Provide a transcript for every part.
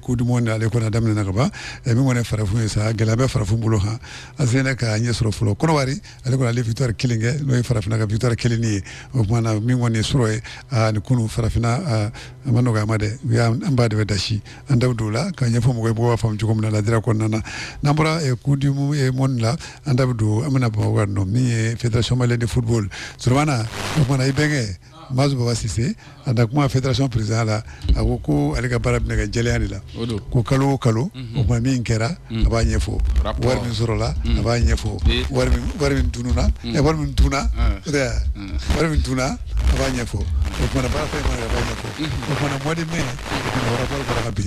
Coupe du Monde ale kɔni daminɛna ka ban min kɔni farafin ye sa gɛlɛya bɛ farafin bolo kan a seginna ka ɲɛ sɔrɔ fɔlɔ Cote d'Ivoire ale kɔni ale victoire kelen kɛ n'o ye farafinna ka victoire kelen ye o tuma na min kɔni surɔ ye ani kunun farafinna a ma nɔgɔya a ma diya an ba de bɛ dasi an da dɔw la ka ɲɛfɔ mɔgɔ b'a faamu cogo min na la dira kɔnɔna na n'an bɔra Coupe du Monde la an da don an bɛna bamakɔ nɔ min ye fédération malienne de football suana o tuma na i bɛnkɛ Mazu baba sise a da kuma fédération président la a ko ko ale ka baara bɛna kɛ jɛlenya de la ko kalo o kalo o tuma min kɛra a b'a ɲɛfɔ wari min sɔrɔla a b'a ɲɛfɔ wari min tununa wari min tuna wari min tuna a b'a ɲɛfɔ o tuma na baara fɛn b'a ɲɛfɔ o tuma na mois de mai o tuma na rapport bɔra ka bi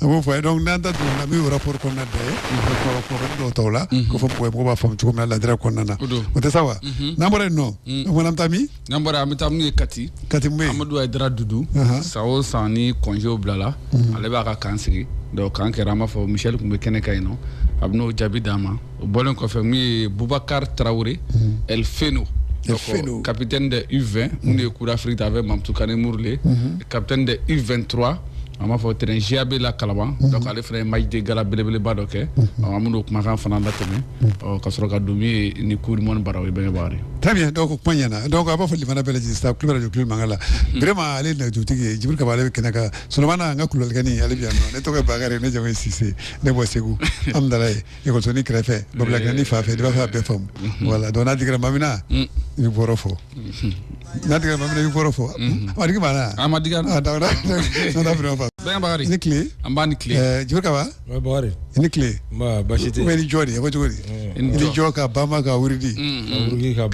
A b'o fɔ donc n'an da donna min ye rapport kɔnɔna de ye dɔw tɔw la k'o fɔ mɔgɔ b'a faamu cogo min na la dira kɔnɔna na o tɛ sa wa n'an bɔra yen nɔ an bɛ taa min n'an bɔra an bɛ taa min ye kati kati amadu ayidara dudu san o san ni congé bilala ale b'a ka camp sigi donc camp kɛra an b'a fɔ Michel tun bɛ kɛnɛ kan yen nɔ a bɛn'o jaabi d'a ma o bɔlen kɔfɛ min ye bubakari tarawele el feno Feno. capitaine de U20 minnu ye Coupe d'Afrique ta avec Mamoutou Kané Mourlé capitaine de U23 an b'a fɔ terrain GAB la Kalaban donc ale fana ye match de gala belebeleba dɔ kɛ ɔ, an bɛn'o kumakan fana latɛmɛ ɔ, ka sɔrɔ ka don min ye ni Coupe du Monde barow ye bɛnkɛ bakari Très bien, donc o kuma ɲɛna donc an b'aw fo lamɛnna bɛɛ lajɛlen staff Kledu radio Kledu mankan la vraiment ale ye nɛgɛjurutigi ye jibiri kaba ale bɛ kɛnɛ kan solomana an ka kulubalikɛnin ale bɛ yan nɔ ne tɔgɔ ye bakari ne jamu ye sise ne bɔ segu amidalayi ikɔsɔn kɛrɛfɛ babila ni fa fɛ i b'a fɛ a bɛɛ fa wala dɔn natigɛ ma min i bɛ bɔ fɔ natigɛ ma i bɛ fɔ amadu banna an ma tile an b' ni tile jo kaba i ni tile basi tɛ ni jɔ de ye ko cogo di i ni jɔ ka ban ka wurudi ka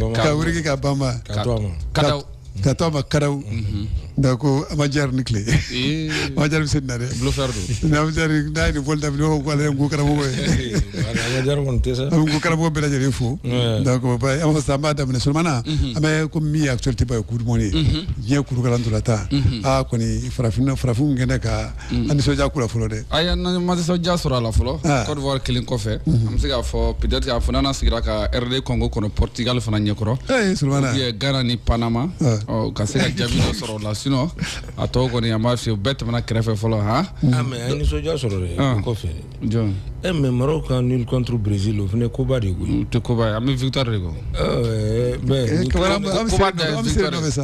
ka ban ka to ma karaw mhm. donc ama jari i ni tile eh. ama jari sen na dɛ bluffeur don ama jari n'a ye nin foli daminɛ o ko ale ye nko karamɔgɔ ye eh, a jari kɔni tɛ sa nko karamɔgɔ bɛɛ lajɛlen fo donc an b'a sisan an b'a daminɛ solomana mhm. an bɛ komi min ye actualité ba ye Coupe du Monde ye mhm. diɲɛ kuuru ka ntolatan a kɔni farafinna farafinw kɛnɛ ka Mm. An nisɔndiya kura fɔlɔ dɛ. Ayi an ma nisɔndiya sɔrɔ a la fɔlɔ. Ah. Cote d'Ivoire kelen kɔfɛ. Mm-hmm. An bɛ se k'a fɔ peut être a fana sigira ka RD Congo kɔni Portugal fana ɲɛkɔrɔ. Ee Solomana. Oubien Ghana ni Panama. Ah. U ka se ka jaabi dɔ sɔrɔ o la sinon a tɔw kɔni an b'a f'i ye u bɛɛ tɛmɛna kɛrɛfɛ fɔlɔ han. Mm. Ah mais an ye nisɔndiya sɔrɔ dɛ. Ah. O kɔfɛ. Jɔn. E eh, mais Maroc ka nul contre Brésil o fana koba de ye koyi. O tɛ koba ye an bɛ victoire de kɔ. Ɛɛ bɛɛ. Koba de ye victoire ye. An bɛ se de nɔfɛ sa.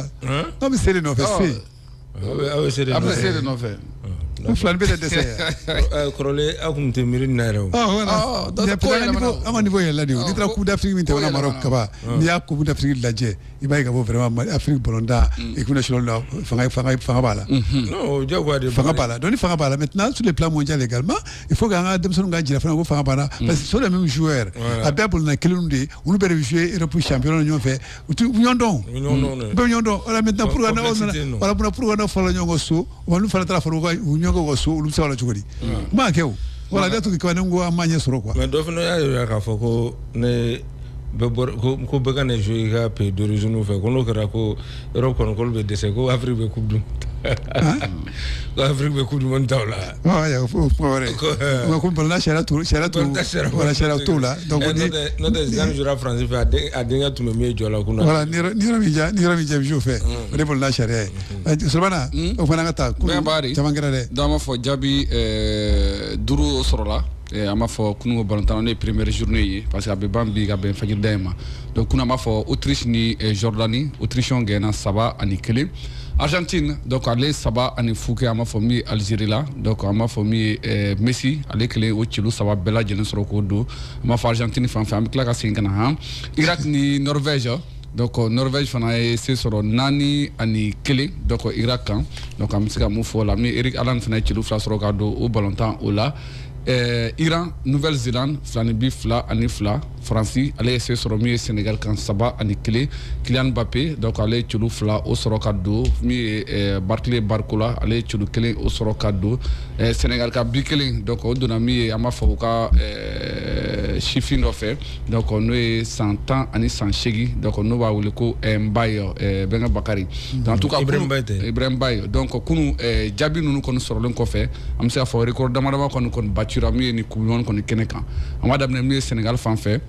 An bɛ se de nɔfɛ se. aw bɛ seere nɔfɛ, aw bɛ seere nɔfɛ, ko filani bɛ na dɛsɛ, kɔrɔlen aw tun tɛ miiri nin na yɛrɛ o, an ka niveau yɛlɛla de o, n'i taara coupe d'Afrique min tɛmɛna Maroc kaban n'i y'a coupe d'Afrique lajɛ i b'a ye k'a fɔ vraiment Afrique balontan équipe nationale la fanga fanga fanga b'a la, non o ye diyagoya de ye, fanga b'a la donc ni fanga b'a la maintenant sur le plan mondial également il faut que an ka denmisɛnninw ka jira fana ko fanga b'an na parce que ce sont les mêmes joueurs a bɛɛ bolonɔ kelenw de ye olu bɛɛ de bɛ jouer Europe championnat na ɲɔgɔn fɛ u tɛ ɲɔgɔn dɔn u bɛ ɲɔgɔn dɔn bɛ ɲɔgɔn dɔn voilà maintenant pour ka na voilà bɛna pour ka na fɔlɔ ɲɔgɔn so wa olu fana taara u ɲɔgɔn ka so olu sara cogo di o ma kɛ o voilà en tout cas ne ko an ma ɲɛ sɔrɔ quoi mais dɔ fana y'a jira k'a fɔ ko ne ko bɛɛ ka na jouer i ka pays d'origine fɛ ko n'o kɛra ko Europe kɔnɔkolo bɛ dɛsɛ ko Afrique bɛ coupe du ko Afrique bɛ coupe du monde ta la Fɛ'a fɔ jaabi duuru sɔrɔ a b'a fɔ kun batan ne peremeerez zuruni ye parce que a bɛ ban bi ka bɛnda in ma don kun b'a fɔ otiriri nidani otiriri gɛnna saba ani kelen Argentine donc ale saba ani fu kɛ an b'a fɔ min ye Algérie la donc an b'a fɔ min ye ɛɛ Messi ale kelen o celu saba bɛɛ lajɛlen sɔrɔ k'o don an b'a fɔ Argentine fan fɛ an bɛ tila ka segin ka na han Irak ni Norvège donc Norvège fana ye se sɔrɔ naani ani kelen donc Irak kan donc an bɛ se ka mun fɔ o la min Erling Haaland fana ye celu fila sɔrɔ ka don o balontan o la ɛɛ Iran Nouvelle Zélande fila ni bi fila ani fila faransi ale ye se sɔrɔ min ye senegal kan saba ani kelen kylian mbappé donc ale ye celu fila o sɔrɔ ka don min ye eh, barclay barcola ale ye celu kelen o sɔrɔ ka don eh, senegal ka bi kelen donc o donna min ye an b'a fɔ u ka eh, sifin dɔ fɛ donc n'o ye san tan ani san seegin donc n'u b'a wele ko eh, mbaye eh, bɛnkɛ bakari hmm. donc en tout cas ibrahim mbaye tɛ ibrahim mbaye donc kunu eh, jaabi ninnu kɔni sɔrɔlen kɔfɛ an bɛ se k'a fɔ record dama dama kɔni kɔni batira min ye ni coupe du monde kɔni kɛnɛ kan an b'a daminɛ min ye sɛnɛgali fan fɛ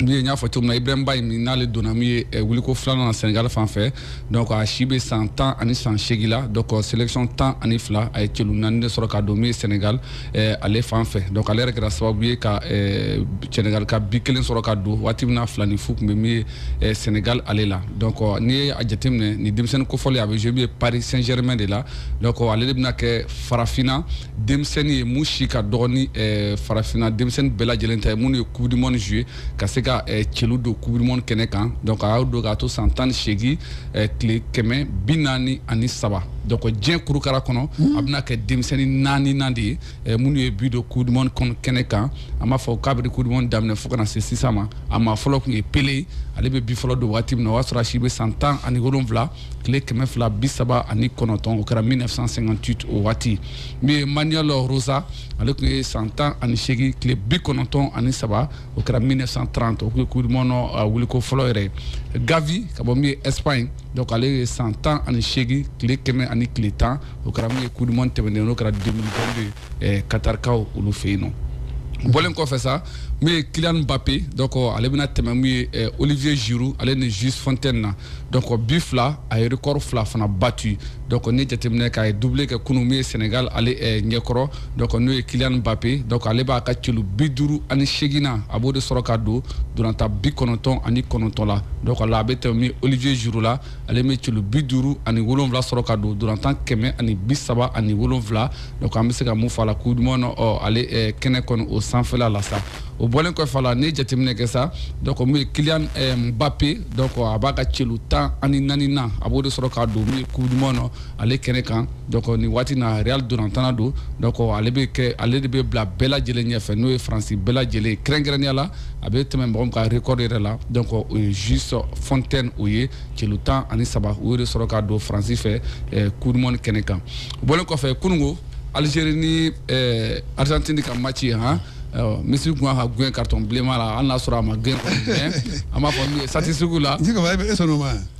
min ye n y'a fɔ cogo min na ibrahim mbaye min n'ale donna min ye eh, wuliko filanan na sɛnɛgali fan fɛ donc a si bɛ san tan ani san seegin la donc euh, sélection tan ani fila a ye celu naani de sɔrɔ ka don min ye sɛnɛgali eh, ale fan fɛ donc ale yɛrɛ kɛra sababu ye ka eh, sɛnɛgali ka bi kelen sɔrɔ ka don waati min na fila ni fu tun bɛ min ye eh, sɛnɛgali ale la donc euh, n'i ye a jateminɛ ni denmisɛnnin kofɔlen a bɛ jouer min ye paris saint germain de la donc euh, ale de bɛna kɛ farafinna denmisɛnnin ye min si ka dɔgɔ ni eh, farafinna denmisɛnnin bɛɛ lajɛlen ta ye minnu ye coupe du monde jouer ka se ka eh, celu don coupe du monde kɛnɛ kan donc a y'o don k'a to san tan ni seegin eh, tile kɛmɛ bi naani ani saba donc diɲɛ kurukara kɔnɔ a bɛna kɛ denmisɛnnin naaninan de ye eh, minnu ye bi don coupe du monde kɛnɛ kan an b'a fɔ kabiri coupe du monde daminɛ fo ka na se sisan ma a maa fɔlɔ tun ye pelé ye ale bɛ bi fɔlɔ don waati min na o y'a sɔrɔ a si bɛ san tan ani wolonwula tile kɛmɛ fila bi saba ani kɔnɔntɔn o kɛra 1958 o waati min ye Manuel Rosa ale tun ye san tan ani seegin tile bi kɔnɔntɔn ani saba o kɛra 1930 o tun ye coupe du monde wuliko fɔlɔ yɛrɛ gavi ka bɔ min ye espagne donc ale ye san tan ani seegin tile kɛmɛ ani tile tan o kɛra min ye coupe du monde tɛmɛnen n'o kɛra 2022 ye eh, katarikaw olu fɛ yen o bɔlen kɔfɛ sa min ye Kylian Mbappé donc ale bɛna tɛmɛ min ye eh, Olivier Giroud ale ni Just Fontaine na donc bi fila a ye record fila fana battu donc ni jateminɛ k'a ye doublé kɛ kunu min ye Sénégal ale eh, ɲɛkɔrɔ donc n'o ye Kylian Mbappé donc ale b'a ka celu bi duuru ani seegin na a b'o de sɔrɔ ka don ntolatan bi kɔnɔntɔn ani kɔnɔntɔn la donc la a bɛ tɛmɛ min ye Olivier Giroud la ale bɛ celu bi duuru ani wolonwula sɔrɔ ka don ntolatan kɛmɛ ani bi saba ani wolonwula donc an bɛ se ka mun fɔ a la coupe du monde ale eh, kɛnɛ kɔni o sanfɛla la sa o bɔlen kɔfɛ a la n'i ye jateminɛ kɛ sa donc min ye Kylian eh, Mbappe donc a b'a ka celu tan ani naani na a b'o de sɔrɔ ka don min ye coupe du monde ale kɛnɛ kan donc nin waati na Real ntolatanna don donc ale bɛ kɛ ale de bɛ bila bɛɛ lajɛlen ɲɛfɛ n'o ye Faransi bɛɛ lajɛlen kɛrɛnkɛrɛnnenya la a bɛ tɛmɛ mɔgɔ min ka record yɛrɛ la donc o ye Just Fontaine o ye celu tan ani saba o de sɔrɔ ka don faransi fɛ coupe du monde kɛnɛ kan o bɔlen kɔfɛ kununko Algérie ni Argentine ka maci ye h Messi tun ka gɛn carton bilenman la hali n'a sɔrɔ a ma gɛn an b'a fɔ min ye sati sugu la e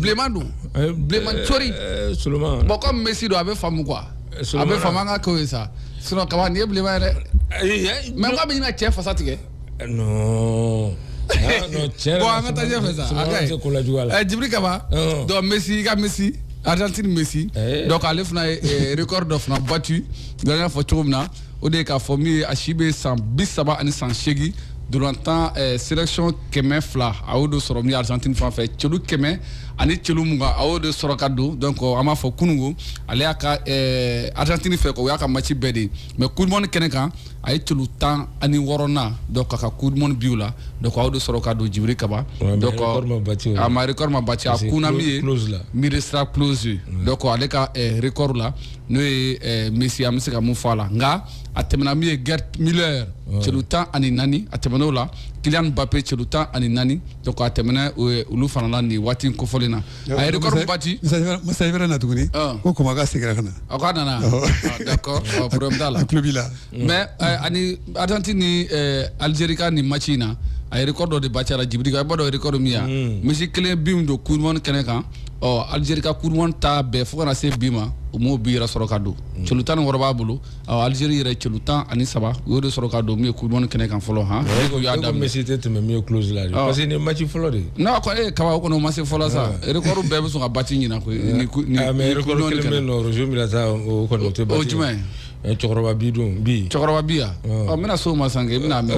bilenman don bilenman cori bon comme Messi don a bɛ faamu quoi a bɛ faama ka kɛ ye sa sinon kaba nin ye bilenman yɛrɛ mais k'a bɛ ɲini ka cɛ fasa tigɛ jibiri kaba donc Messi ka Messi Argentine Messi donc ale fana ye record dɔ fana bati y'a fɔ cogo min na o de ye k'a fɔ min ye a si bɛ san bi saba ani san seegin ntolatan eh, selection kɛmɛ fila a y'o de sɔrɔ min argentine fan fɛ celu kɛmɛ ani celu mugan a y'o de sɔrɔ ka don donc an b'a fɔ kunungo ale y'a ka eh, argentine fɛ o y'a ka match bɛɛ de mais coupe du monde kɛnɛ kan a ye celu tan ani wɔɔrɔnan donc a ka coupe du monde biw la donc a y'o de sɔrɔ ka don jibiri kaba Ouais, donc mais record ma bati o la. a ma record ma bati a Parce que kunna min ye Klose la. Miroslav Klose donc ale ka eh, record la n'o ye eh, messi an bɛ se ka mun fɔ a la nka a tɛmɛna min ye Gerd Müller celu tan ani naani a tɛmɛn'o la Kylian Mbappé celu tan ani naani donc a tɛmɛna eh, olu fana la nin waati in kofɔlen na a ye record bati masa ibra na tuguni ah. ko koma ka segira ka na a ko a nana oh. ah, d'accord ah, problème t'a la a tulo b'i la mais eh, ani argentine ni eh, algérie ka nin match in na a ye record dɔ de bati a la jibiri ka i b'a dɔn record min ye hmm. Messi kelen bi min don coupe du monde kɛnɛ kan ɔ Algérie ka coupe du monde ta bɛɛ fo ka na se bi ma u m'o bi yɛrɛ sɔrɔ ka don mm. celu tan ni wɔɔrɔ b'a bolo ɔ Algérie yɛrɛ celu tan ani saba u y'o de sɔrɔ ka don min ye coupe du monde kɛnɛ kan fɔlɔ han u y'a daminɛ Messi tɛ tɛmɛ min ye Klose la parce que nin match fɔlɔ de don koyi kaba o kɔnɔ o ma se fɔlɔ sa record bɛɛ bɛ sɔn ka bati ɲina koyi ni ni ah, mais record kelen bɛ yen nɔ Roger Milla ta o kɔni o tɛ bati o jumɛn Eh, cɛkɔrɔba bi don bi cɛkɔrɔba bi yan ɔ n bɛna s'o ma san kɛ i bɛn'a mɛn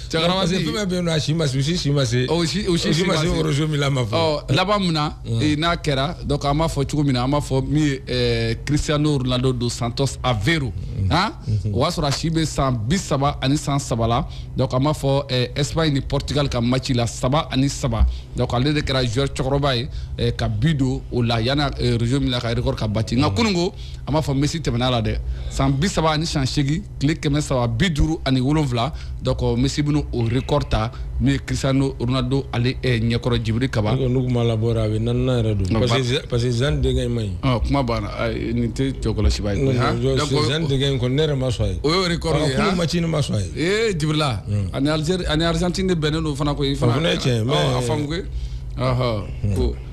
cɛkɔrɔba bi fɛn bɛ yen a si ma se u si si ma se o si o si ma se Roger Milla ma fɔ oh, laban min na eh, n'a kɛra donc an b'a fɔ cogo min na an b'a fɔ min ye eh, Cristiano Ronaldo dos Santos Aveiro mm-hmm. han mm-hmm. o y'a sɔrɔ a si bɛ san bi saba ani san saba la donc an b'a fɔ Espagne ni Portugal ka match la saba ani saba donc ale de kɛra joueur cɛkɔrɔba ye ka bi don o la yanni Roger Milla ka record ka bati nka mm-hmm. kununko an b'a fɔ Messi tɛmɛn'a la dɛ san bi saba ani san seegin tile kɛmɛ saba bi duuru ani wolonwula donc Messi bɛna o record ta min ye Cristiano Ronaldo ale eh, ɲɛkɔrɔ jibiri kaba n'u tun m'a labɔ a bɛ naaninan yɛrɛ don parce que Zidane denkɛ in ma ɲi kuma banna nin tɛ jɔkɔlɔsiba ye Zidane denkɛ in kɔni ne yɛrɛ ma sɔn a ye o y'o record ye kunun match ne ma sɔn a ye ee jibirila hmm. ani Algérie ani Argentine de bɛnnen don fana koyi fana o fana ye tiɲɛ ye a faamu koyi ko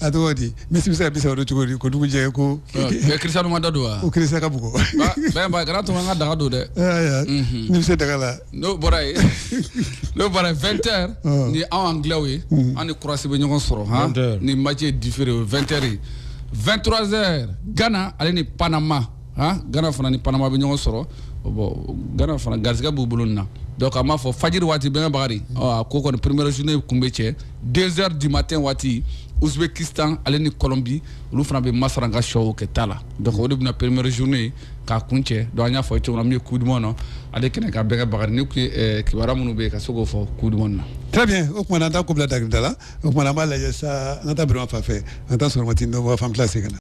a tɔgɔ di Messi bɛ se ka bi saba don cogo di ko dugu jɛ ko Cristiano ma da don wa ko Cristiano ka bugu kana to an ka daga don dɛ ni bɛ se daga la n'o bɔra yen n'o bɔra vingt heures ni anw anglais ye an ni Croatie bɛ ɲɔgɔn sɔrɔ han ni match différé o vingt heures vingt-trois heures Ghana ale ni panama han Ghana fana ni panama bɛ ɲɔgɔn sɔrɔ bon Ghana fana garisɛgɛ b'u bolo nin na donc an b'a fɔ fajiri waati bɛnkɛ bakari ɔ a ko kɔni première journée kun bɛ cɛ deux heures du matin waati Ouzbékistan ale ni Colombie olu fana bɛ masaran ka sɔw kɛ ta la donc o de bɛna première journée k'a kun cɛ donc an y'a fɔ cogo min na min ye coupe du monde na ale kɛnɛ kan bɛnkɛ bakari nin tun ye eh, kibaruya minnu bɛ yen ka se k'o fɔ coupe du monde na très bien o tuma na an t'a ko bila dakirinda la o tuma na an b'a lajɛ sa an ka taa birama fan fɛ an ka taa sɔrɔmati nɔbɔ fan tila segin ka na